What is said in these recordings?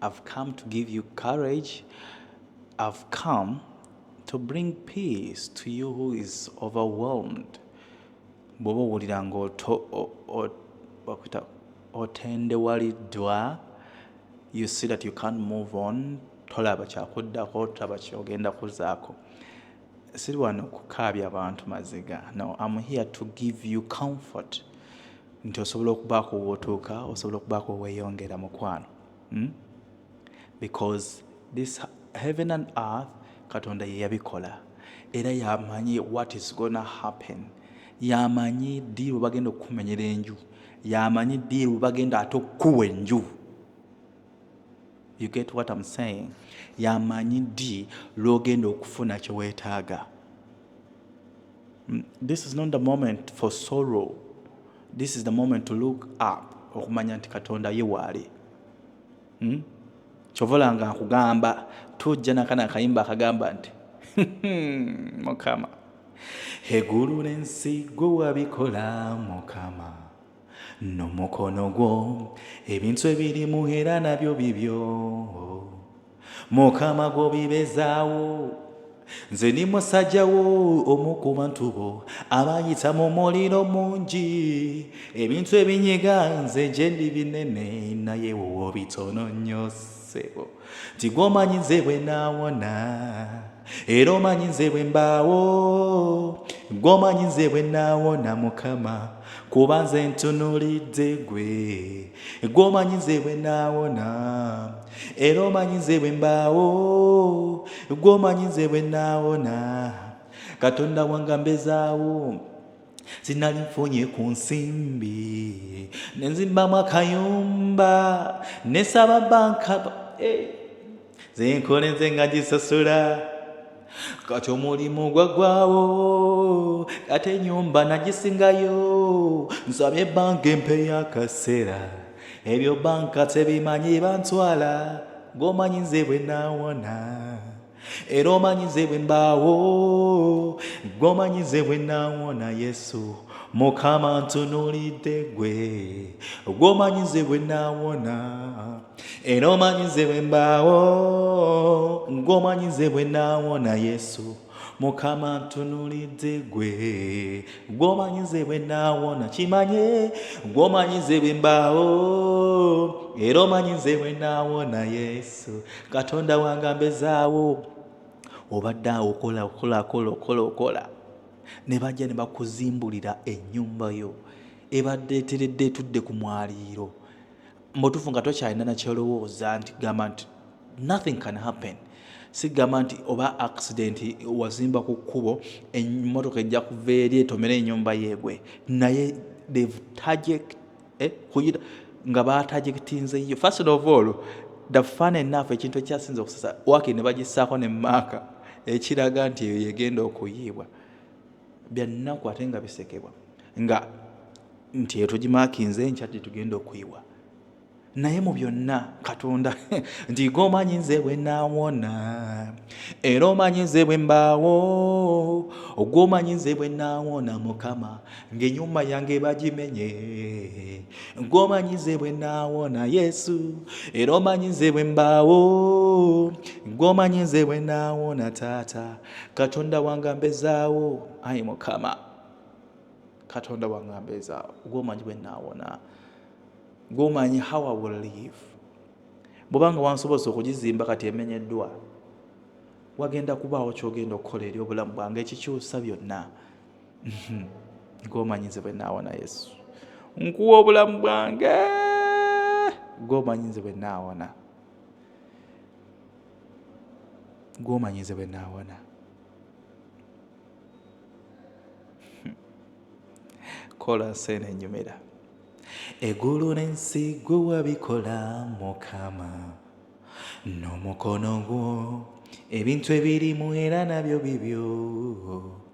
I've come to give you courage. I've come to bring peace to you who is overwhelmed. Bw'oba owulira ng'otendewaliddwa, you see that you can't move on, tolaba kyakuddako, tolaba kyogenda kuzaako. siri wano kukaabya abantu maziga no am here to give you comfort nti osobola okubaako wotuuka osobola okubaako weyongera mukwano hmm? because this heaven and earth katonda yeyabikola era yamanyi what is gonna happen yamanyi dii webagenda okukumenyera enju yamanyi dii webagenda ate okukuwa enju You get what I'm saying? Yamanyi ddi lwogenda okufuna kye weetaaga. Mm, this is not the moment for sorrow. This is the moment to look up okumanya nti Katonda ye waali. Hmm? Kyovola nga nkugamba tujja nakana akayimba akagamba nti hmm, Mukama egulu n'ensi gwe wabikola Mukama. n'omukono gwo ebintu ebirimu era nabyo bibyo mukama gwobibezaawo nze ni musajja wo omu ku bantu bo abayita mu muliro mungi ebintu ebinyiga nze gyendi binene naye wowo bitono nnyo ssebo nti gwomanyi nze bwe naawona era omanyi nze bwe mbaawo gwomanyi nze bwe naawona mukama kuba nze ntunulidde gwe gwomanyi nze bwe naawona era omanyi nze bwe mbaawo gwomanyi nze bwe naawona katonda wange ambezaawo sinali nfunye ku nsimbi nenzimbamu akayumba nesaba banka eh, zenkolenze nga gisasula kati omulimu gwagwawo kati enyumba nagisingayo nsabye banka empe yakaseera ebyo banka tebimanyi bantwala gomanyi nze bwenawona era omanyi nze bwe mbaawo gwe omanyi nze bwe nawona yesu mukama ntunulidde gwe gwe omanyi nze bwe nawona era omanyi nze bwe mbaawo gwe omanyi nze bwe nawona yesu mukama ntunulidde gwe gwe omanyi nze bwe nawona kimanye gwe omanyi nze bwe mbaawo era omanyi nze bwe nawona yesu katonda wange ambezaawo obadde awo okola okola okola okola okola ne bajja ne bakuzimbulira ennyumba yo ebadde eteredde etudde ku mwaliiro mubutuufu nga tokyalina nakyolowooza nti gamba nti nothing can happen sigamba nti oba accident wazimba ku kkubo emmotoka ejja kuva eri etomera enyumba yeegwe naye they've target eh, kuyita nga baatagitinzeyo first of all the fun enough ekintu ekyasinza okusesa waki ne bagissaako ne maaka ekiraga nti eyo yegenda okuyiibwa byannaku ate nga bisekebwa nga nti eyo tugimakinze enkya ti tugenda okuyiwa naye mu byonna katonda nti ge omanyi nze bwe nawona era omanyi nze bwe mbaawo ogwomanyi nze bwe nawona mukama ng'enyuma yange bagimenye ng'omanyi nze bwe naawona yesu era omanyi nze bwe mbaawo ng'omanyi nze bwe naawona taata katonda wange ambezaawo ayi mukama katonda wange ambezaawo ng'omanyi bwe naawona ng'omanyi how i will live bwobanga wansobozesa okugizimba kati emenyeddwa wagenda kubaawo kyogenda okukola eri obulamu bwange ekikyusa byonna Mhm. gwomanyi nze bwenaawa na yesu nkuwa obulamu bwange gwomanyi nze bwenaawana gwomanyi nze bwenaawana hmm. kola nseena enyumira egulu n'ensi gwe wabikola mukama n'omukono gwo ebintu ebirimu era nabyo bibyo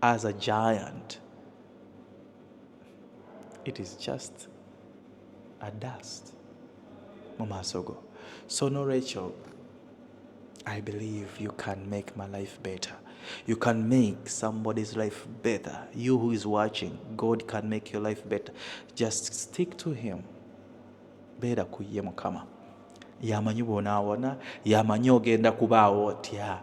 as a giant it is just a dust mu maaso go so nolwekyo i believe you can make my life better you can make somebody's life better you who is watching god can make your life better just stick to him beera ku ye mukama yamanyi bwonaawona yamanyi ogenda kubaawo otya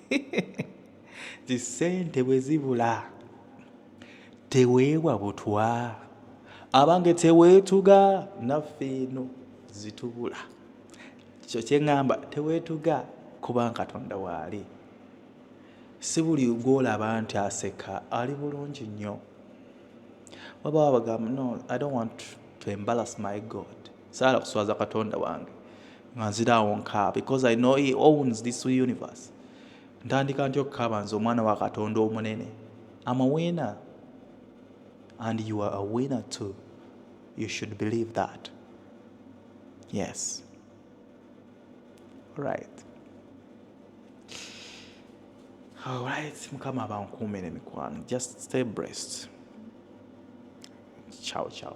zi sente bwe zibula teweebwa butwa abange teweetuga naffe eno zitubula kyo kyeŋŋamba teweetuga kuba katonda waali si buli gwolaba nti aseka ali bulungi nnyo waba wabagamba no i don't want to embarrass my god saala kuswaza katonda wange nga nziraawo nkaa because i know he owns this universe ntandika nti okukaaba nze omwana wa katonda omunene am a winner and you are a winner too you should believe that yes right alright mukama abankuumire mikwano just stay breast ciao ciao